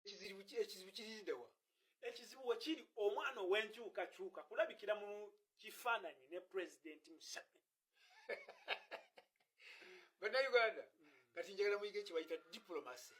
ekizibu kiridewa ekizibu wekiri omwana owenkyukakyuka kulabikira mu kifaananyi ne pulezidenti museveni banauganda mm. kati njagala muyige kyebayita diplomacy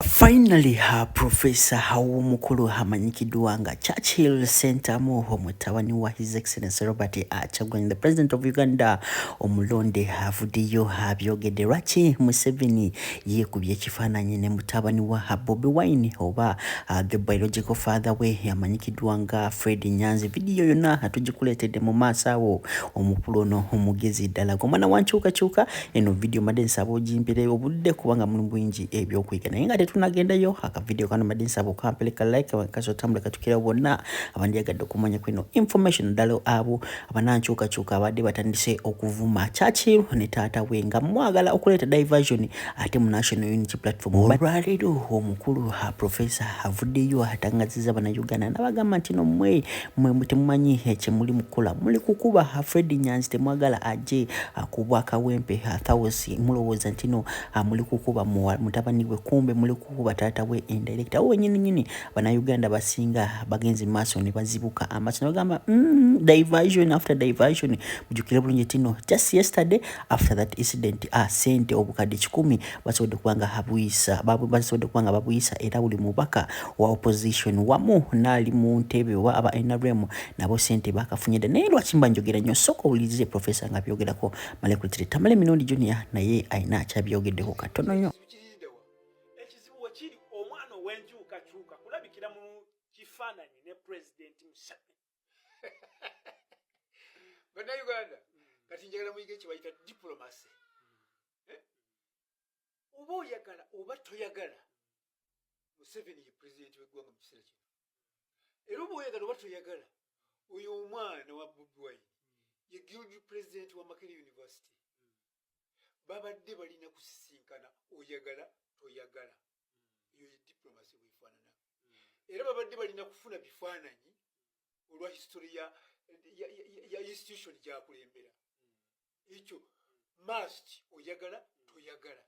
Finally her professor Hawumukulu amanyikiddwa nga Churchill Sentamu omutabani wa His Excellency Robert Kyagulanyi the President of Uganda omulonde avuddeyo abyogedde lwaki Museveni yeekubye ekifaananyi ne mutabani wa Bobi Wine oba uh, the biological father we amanyikiddwa nga Fred Nyanzi. Vidiyo yonna atugikuleetedde mu maaso awo omukulu ono omugezi ddala gwe mwana wa nkyukakyuka. Eno vidiyo madde nsaba ogimpire obudde kubanga mulimu bingi ebyokuyiga, naye nga tetunagendayo akavidiyo kano madde nsaba okampeleka like kasotambula katukirawo bonna abandyagadde okumanya kweno information ddala abo abanankyukakyuka abadde batandise okuvuma churchill ne taata we nga mwagala okuleeta diversion ate mu national unity platform olwaleero omukulu ha profesa avuddeyo atangaziza banauganda nabagamba nti no mwe mwe temumanyi kyemuli mukukola muli kukuba ha fred nyanzi temwagala aje akubwa akawempe ha thawusi mulowooza ntino muli kukuba mutabani we kumbe muli kukuba taata we indirecta wenyininyini Bannayuganda abasinga bagenze mu maaso ne bazibuka amaaso ne bagamba mm, diversion after diversion. Mujjukire bulungi tino just yesterday after that incident ah, sente obukadde kikumi basobodde kuba nga habuyisa basobodde kuba nga babuyisa era buli mubaka wa opposition wamu naali mu ntebe oba aba nrm nabo sente bakafunye dda naye lwaki mba njogera nnyo sooka owulirize profesa nga byogerako malekulitire tamale emirundi junior naye alina akyabyogeddeho katono nnyo ekizibu wekiri omwana owenkyukakyuka kulabikira mu kifaananyi ne pulezidenti museveni banauganda mm. kati njagala muyige kyebayita diplomacy mm. eh? oba oyagala oba toyagala museveni ye pulezidenti weggwanga mu kiseera kino era oba oyagala oba toyagala oyo omwana wa bobi wine ye guild president wa makere university babadde balina kusisinkana oyagala toyagala eyo ye diplomasi bwefaanana era babadde balina kufuna bifaananyi olwa history ya, ya, ya, ya institution gyakulembera ekyo mast oyagala toyagala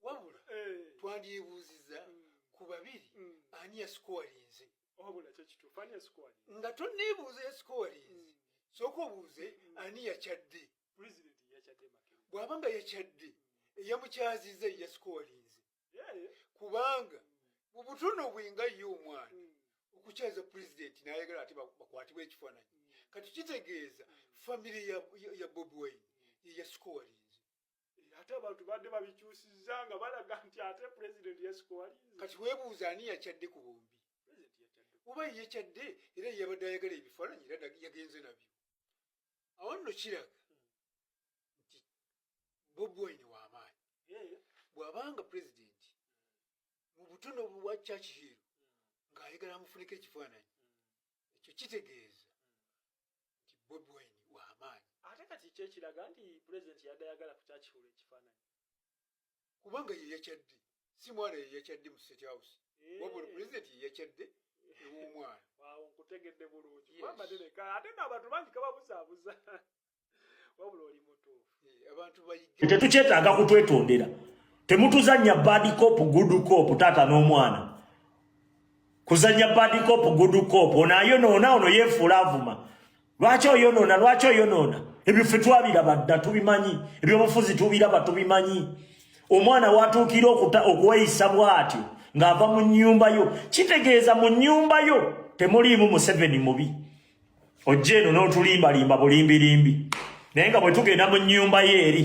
wabula eh. twandyebuuziza mm. ku babiri mm. ani yasikowalinze nga toneebuuza yasikowalinze mm. sooka obuuze ani yakyadde bw'aba nga yakyadde eyamukyaziza eyasikowalinze kubanga mu butono bwenga ye omwana hmm. okukyaza pulezidenti n'ayagala ate bakwatibwa ekifaananyi hmm. kati kitegeeza famire ya bobi wine yeyasikowalinze eh, ate abantu badde babikyusiza nga balaga nti ate pulezidenti yasikowalinze kati weebuuza ani yakyadde ku bombi oba yekyadde era yabadde ayagala ebifaananyi era yagenze nabyo awo nno kiraga nti bobi wine wamaanyi bwabanga pulezidenti mu butono bwa cakihiiro ng'ayagala amufuniko ekifaananyi ekyo kitegeeza nti bobi wine wamaanyi ate kati kyekiraga nti pulezidenti yadayagala ku cakihiiro ekifaananyi kubanga yeyakyadde si mwana yeyakyadde mu state house eh. wabula president yeyakyadde ewomwana awo nkutegedde bulungi mabadereka ate naabantu bangi kababuzaabuza wabula oli mutuufu eh, abantu bayige tetukyetaaga kutwetondera temutuzannya bad cop good cop taata n'omwana kuzanya bad cop good cop ona ayonoona ono yefuula avuma lwaki oyonoona lwaki oyonoona ebyo ffe twabiraba dda tubimanyi ebyobufuzi tubiraba tubimanyi omwana watuukira okuweyisa bwatyo ng'ava mu nnyumba yo kitegeeza mu nnyumba yo temuliimu museveni mubi ojja eno n'otulimbalimba bulimbirimbi naye nga bwe tugenda mu nnyumba yo eri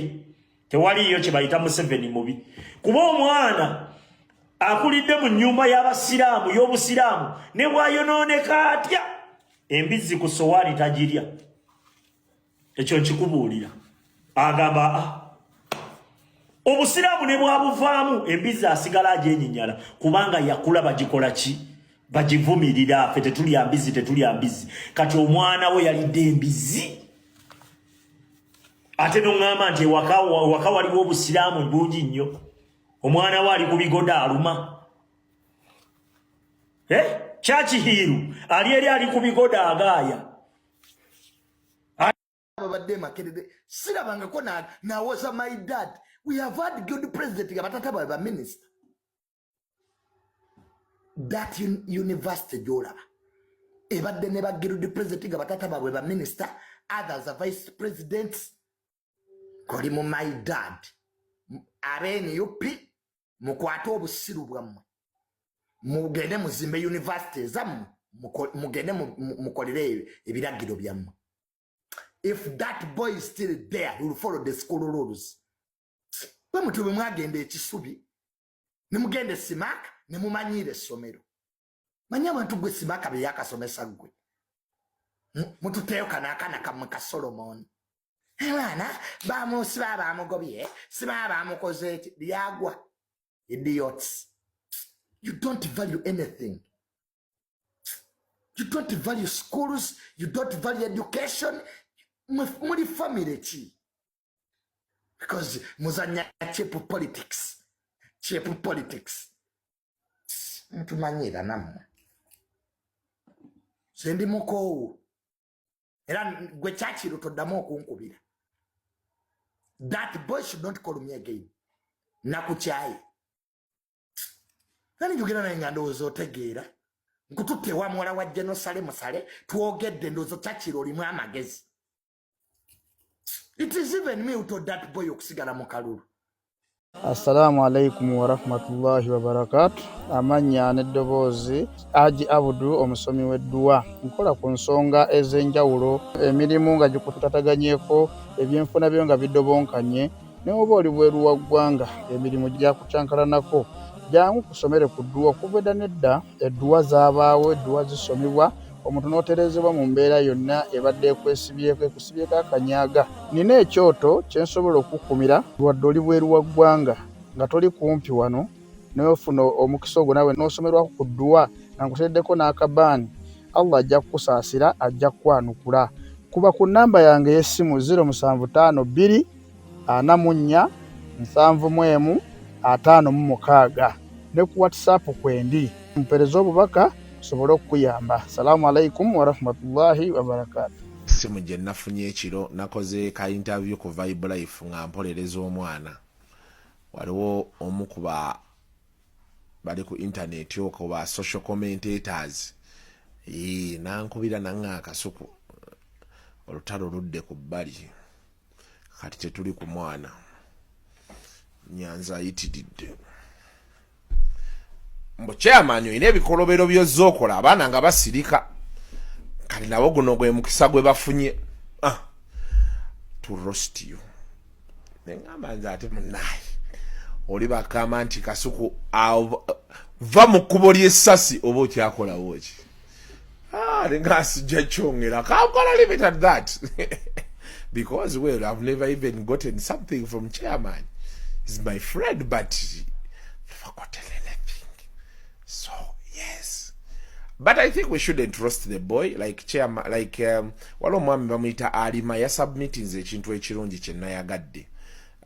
tewaliiyo kye bayita museveni mubi kuba omwana akulidde mu nyumba y'abasiraamu y'obusiraamu ne bwayonooneka atya embizzi ku sowaani tagirya ekyo nkikubuulira agamba a ah, obusiraamu ne bwabuvaamu embizzi asigala agyenyinyala kubanga yakula bagikola ki bagivumirira ffe tetulya mbizzi tetulya mbizzi kati omwana we yalidde embizzi ate noŋŋamba nti ewaka waka waliwo obusiraamu bungi nnyo omwana we ali ku bigoda aluma eh? kyakihiiru ali eri ali ku bigoda agaaya babadde makerere sirabangako nawoza my dad we have had good president nga batata babe baminista that university gyolaba ebadde ne bagirudi president nga batata babwe ba minister others a vice president koli mu my dad abnup mukwate obusiru bwammwe mugende muzimbe university ezammwe mugende mukolere ebiragiro byammwe if that boy is still there will follow the school rules bwe mutyo bwe mwagenda ekisubi ne mugenda esimaaka ne mumanyiira essomero manyi abantu gwe simaaka bye yakasomesa ggwe mututeeyo kano akana kamwe ka solomoni abaana bamusiba bamugobye siba bamukoze eki lyagwa idiots you don't value anything you don't value schools you don't value education muli family ki because muzanya cheap politics cheap politics mutumanyira namwe sendi mukoowu era gwe kyakiro toddamu okunkubira that boy should not call me again nakukyaye nani njogera naye nga ndowooza otegeera nkututte wa muwala wa jenosale musale twogedde ndowooza kyakiro olimu amagezi It is even me who told that boy okusigala mu kalulu. Assalamu alaikum warahmatullahi wabarakatu. Amannya n'eddoboozi Haji Abudu omusomi w'edduwa. Nkola ku nsonga ez'enjawulo, emirimu nga gikutataganyeko, ebyenfuna byo nga bidobonkanye, ne oba oli bweru wa ggwanga emirimu gyakucankalanako. Jangu kusomere ku dduwa okuva edda n'edda. Edduwa zaabaawo, edduwa zisomebwa, omuntu n'otereezebwa mu mbeera yonna ebadde ekwesibyeko, ekusibyeko akanyaaga. Nnina ekyoto kye nsobola okukukumira. Wadde oli bweru wa ggwanga, nga toli kumpi wano, naye ofuna omukisa ogwo naawe n'osomerwako ku dduwa nga nkuteereddeko n'akabaani, Allah ajja kukusaasira, ajja kukwanukula. Kuba ku nnamba yange ey'essimu, ziro musanvu ttaano bbiri. ana mu nnya, nsanvu mu emu, ataano mu mukaaga. Ne ku WhatsApp kwendi. Mpereza obubaka nsobole okukuyamba. Salamu alaikum warahmatullahi wabarakatu. Ssimu gye nafunye ekiro nakoze ka interview ku Vibe Life nga mpolereza omwana. Waliwo omu ku ba bali ku intaneti okwo ba social commentators nankubira nanga akasuku olutalo ludde ku bbali kati tetuli ku mwana nyanza ayitiridde mbu chairman olina ebikolobero byozza okola abaana nga basirika kati nabo guno gwe mukisa gwe bafunye ah, to rost you neŋamba nze ate munaye oli bakama nti kasuku va mu kkubo ly'essasi oba okyakolawo ki ah ndingasijja kyongera how can i leave it at that because well i've never even gotten something from chairman he's my friend but never gotten anything so yes but i think we shouldn't roast the boy like chairman like um, waliwo omwami bamuyita alima yasubmitinze ekintu ekirungi kyenayagadde